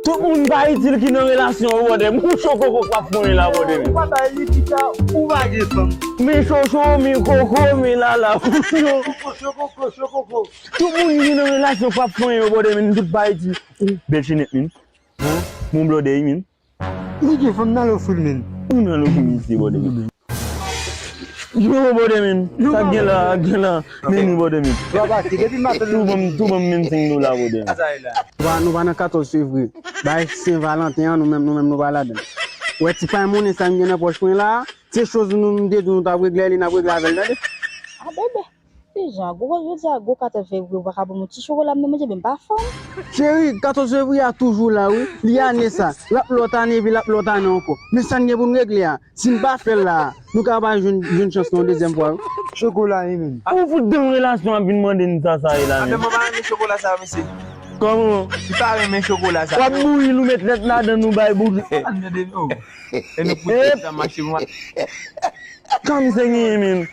Tout moun pa itil ki nan relasyon yo brother Pou cho koko kap konyen la brother Ou pa bay li pita ou pa gen fanm. Mi chocho mi koko mi lala Cho koko cho koko cho koko. Tout moun ki nan relasyon pap konyen yo brother Tout pa itil Ou bel chenèt min Mon brother ui min. Niki fanm nan lo fil menn. Ou nan lo fil isi bòdè menn. Yoo bòdè menn sak genla genla menn bòdè menn. Tou banm tou banm menm 5 dola bòdè menn. Nou pa nan 14 fevrier. Bay sen valanten an nou menm nou menm nou pa ladann. Ou wè ti pay monnen sa m gen nan pòch mwen la a, se choz nou nou m te di w nou t ap regle li n ap regle avè l tande. Abebe. Kijan? Gwo kote jodi a gwo 14 fevriye ou paka banm yon ti chokola m nan manje menm pa fanm. Cheri 14 fevriye a toujou la wi, li ane sa, lap lòt ane epi lap lòt ane ankò, men sa n gen pou n regle a, si n pa fè l la a, nou ka pa jwenn chans nou yon dezyèm fwa wi. Chokola e menm. Ou fout danm relasyon ap vin mande n sa sa e la menm. Mwen pa renmen chokola sa mesye. Kòman? M pa renmen chokola sa. Wap bouyi l ou met lèt ladan l ou bay bouki. Sa n mnde menm? E nou fout pran tan mache m wè. Kan m se genyen menm.